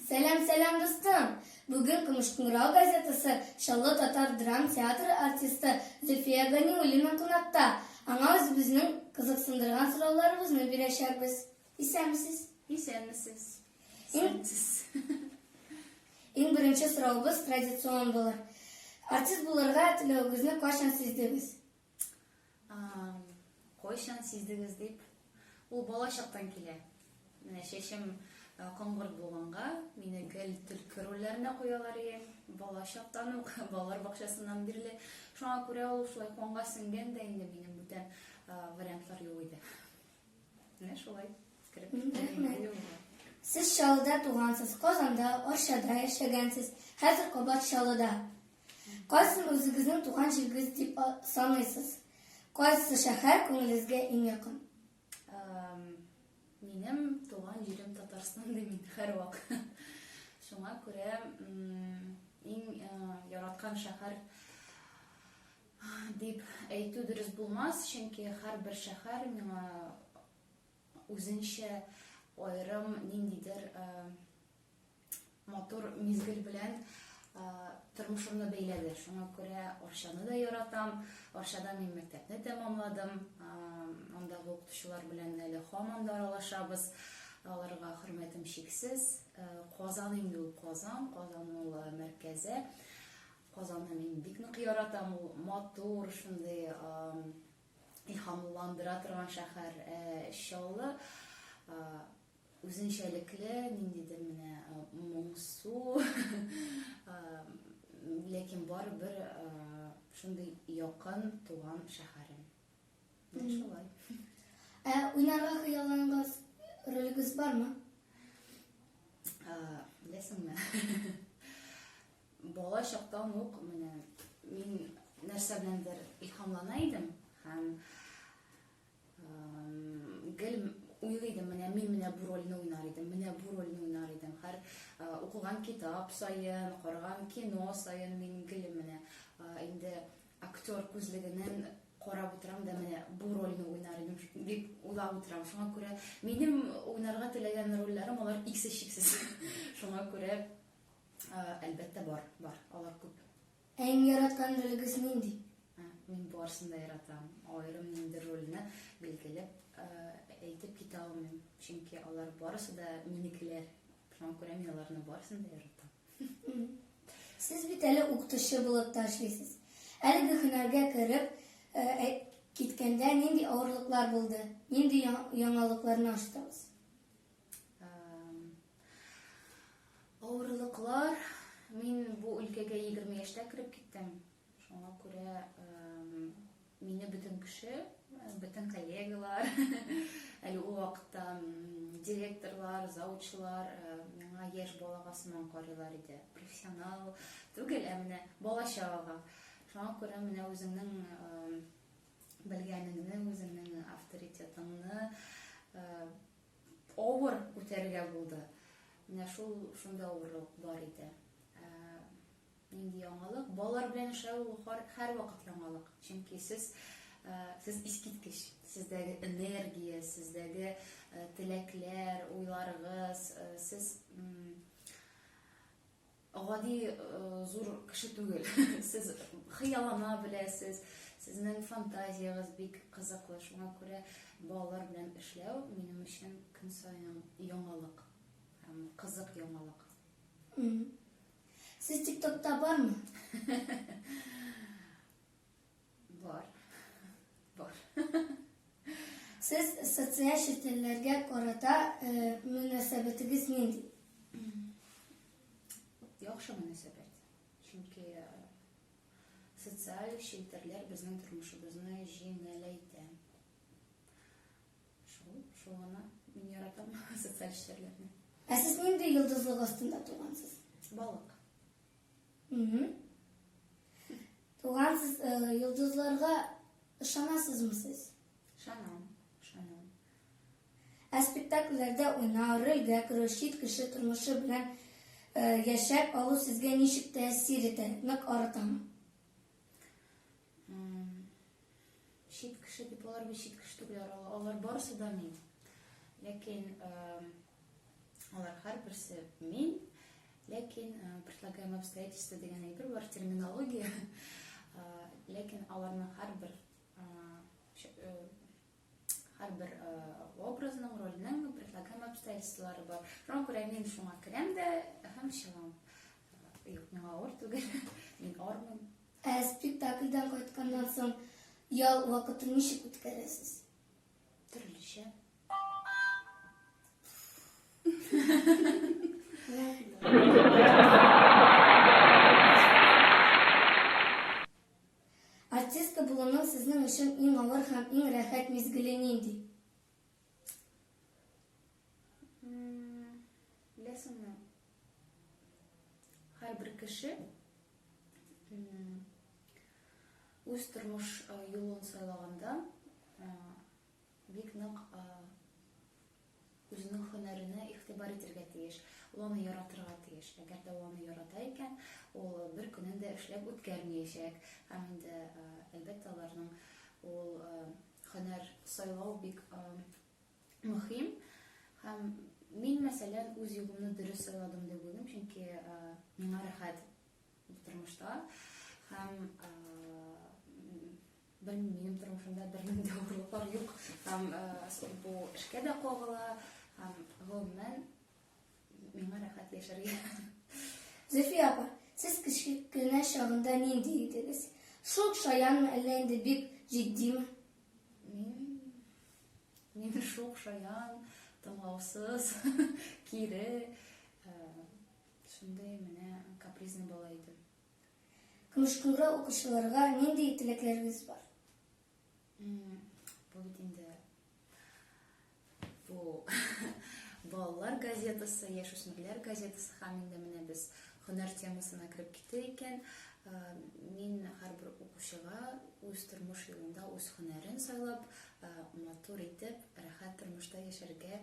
Сәлам, сәлам, дустым! Бүген Көмешкүңрау газетасы Чаллы татар драм театры артисты Зөлфия Ганиуллина кунакта. Аңа үзебезнең кызыксындырган сорауларыбызны бирәчәкбез. Исәнмесез! Исәнмесез! Исәнмесез! Иң беренче соравыбыз традицион булыр. Артист булырга теләвегезне кайчан сиздегез? Кайчан сиздегез дип, ул бала чактан килә. Менә чәчем коңгырт булганга, мине гел төлке рольләренә куялар иде. Бала чактан ук, балалар бакчасыннан бирле. Шуңа күрә ул шулай канга сеңгән дә инде, минем бүтән вариантлар юк иде. Менә шулай. Кереп киттем. Сез Чаллыда тугансыз, Казанда, Арчада яшәгәнсез, хәзер кабат Чаллыда. Кайсын үзегезнең туган җирегез дип саныйсыз? Кайсы шәһәр күңелегезгә иң якын? Минем туган җирем Татарстан ди мин һәрвак. Шуңа күрә иң яраткан шәһәр дип әйтү дөрес булмас, чөнки һәрбер шәһәр миңа үзенчә аерым ниндидер Матур мизгел белән тормышымны бәйләде. Шуңа күрә Арчаны да яратам. Арчада мин мәктәпне тәмамладым. Андагы укытучылар белән әле һаман да аралашабыз. Аларга хөрмәтем чиксез. Казан инде ул Казан, Казан ул мәркәзе. Казанны мин бик нык яратам. Ул матур, шундый илһамландыра торган шәһәр. Чаллы Үзенчәлекле ниндидер менә моңсу, ләкин барыбер шундый якын туган шәһәрем. Менә шулай. Ә уйнарга хыялланган ролегез бармы? Беләсеңме? Бала чактан ук менә мин нәрсә беләндер илһамлана идем һәм гел уйлый идем менә мин менә бу рольне уйнар идем менә бу рольне уйнар идем һәр укыган китап саен караган кино саен мин гел менә инде актер күзлегеннән карап утырам да менә бу рольне уйнар идем дип уйлап утырам шуңа күрә минем уйнарга теләгән рольләрем алар иксез чиксез шуңа күрә әлбәттә бар бар алар күп Әң яраткан ролегез нинди? Мин барысын да яратам. Аерым ниндидер рольне билгеләп әйтеп китә алмыйм. Чөнки алар барысы да минекеләр. Шуңа күрә мин аларны барысын да яратам. Сез бит әле укытучы булып та эшлисез. Әлеге һөнәргә кереп киткәндә нинди авырлыклар булды? Нинди яңалыкларны ачтыгыз? Авырлыклар, мин бу өлкәгә 20 яшьтә кереп киттем. Шуңа күрә мине бөтен кеше, бөтен коллегалар, әле ул вакытта директорлар, заучылар э, миңа яшь балага сыман карыйлар иде. Профессионал түгел, ә менә бала чагага. Шуңа күрә менә үзеңнең э, белгәнеңне, үзеңнең авторитетыңны э, Авыр күтәрергә булды. Менә шул шунда авырлык бар иде. Нинди яңалык? Балалар белән эшләү һәрвакыт яңалык. Чөнки сез сез искиткеч. Сездәге энергия, сездәге теләкләр, уйларыгыз, сез Гади зур кеше түгел. Сез хыяллана беләсез, сезнең фантазиягез бик кызыклы. Шуңа күрә балалар белән эшләү минем өчен көн саен яңалык һәм кызык яңалык. Сез ТикТокта бармы? Бар. Бар. Сез социаль челтәрләргә карата э, мөнәсәбәтегез нинди? Яхшы мөнәсәбәт. Чөнки э, социаль челтәрләр безнең тормышыбызны җиңеләйтә. Шул, шул гына мин яратам социаль челтәрләрне. Ә сез нинди йолдызлык астында тугансыз? Балык. Туган сез, э, йолдызларга ышанасызмы сез? Ышанам, ышанам. Ә спектакльләрдә уйнау, рольгә керү, чит кеше тормышы белән э, яшәп алу сезгә ничек тәэсир итә? Нык арытамы? Чит кеше дип алар бит чит кеше түгелләр, алар барысы да мин. Ләкин алар һәрберсе мин, ләкин предлагаем обстоятельства дигән әйбер бар терминология. Ләкин аларның һәрбер Һәрбер э, образның, рольнең предлагаем обстоятельстволары бар. Шуңа күрә мин шуңа керәм дә һәм чыгам. Э, юк, миңа авыр түгел. Мин армын. Ә спектакльдән кайтканнан соң ял вакытын ничек үткәрәсез? Төрлечә. Артистка булуның сезнең өчен иң авыр һәм иң рәхәт мизгеле нинди? Беләсеңме, һәрбер кеше үз тормыш юлын сайлаганда бик нык Үзенең һөнәренә игътибар итергә тиеш, ул аны яратырга тиеш. Әгәр дә ул аны ярата икән, ул бер көнен дә эшләп үткәрмиячәк. Һәм инде, әлбәттә, аларның ул һөнәр сайлау бик мөһим. Һәм мин, мәсәлән, үз юлымны дөрес сайладым дип уйлыйм, чөнки миңа рәхәт тормышта. Һәм Белмим, минем тормышымда бернинди авырлыклар юк. Һәм бу эшкә дә кагыла, һәм гомумән миңа рәхәт яшәргә. Зөлфия апа, сез кечкенә чагында нинди идегез? Шук шаянмы, әллә инде бик җитдиме? Мин шук шаян, тыңлаусыз, кире, шундый менә капризный бала идем. Көмешкүлгә укучыларга нинди теләкләрегез бар? Бу бит инде бу балалар газетасы, яшүсмерләр газетасы һәм инде менә без һөнәр темасына кереп китте икән, мин һәрбер укучыга үз тормыш юлында үз һөнәрен сайлап, матур итеп, рәхәт тормышта яшәргә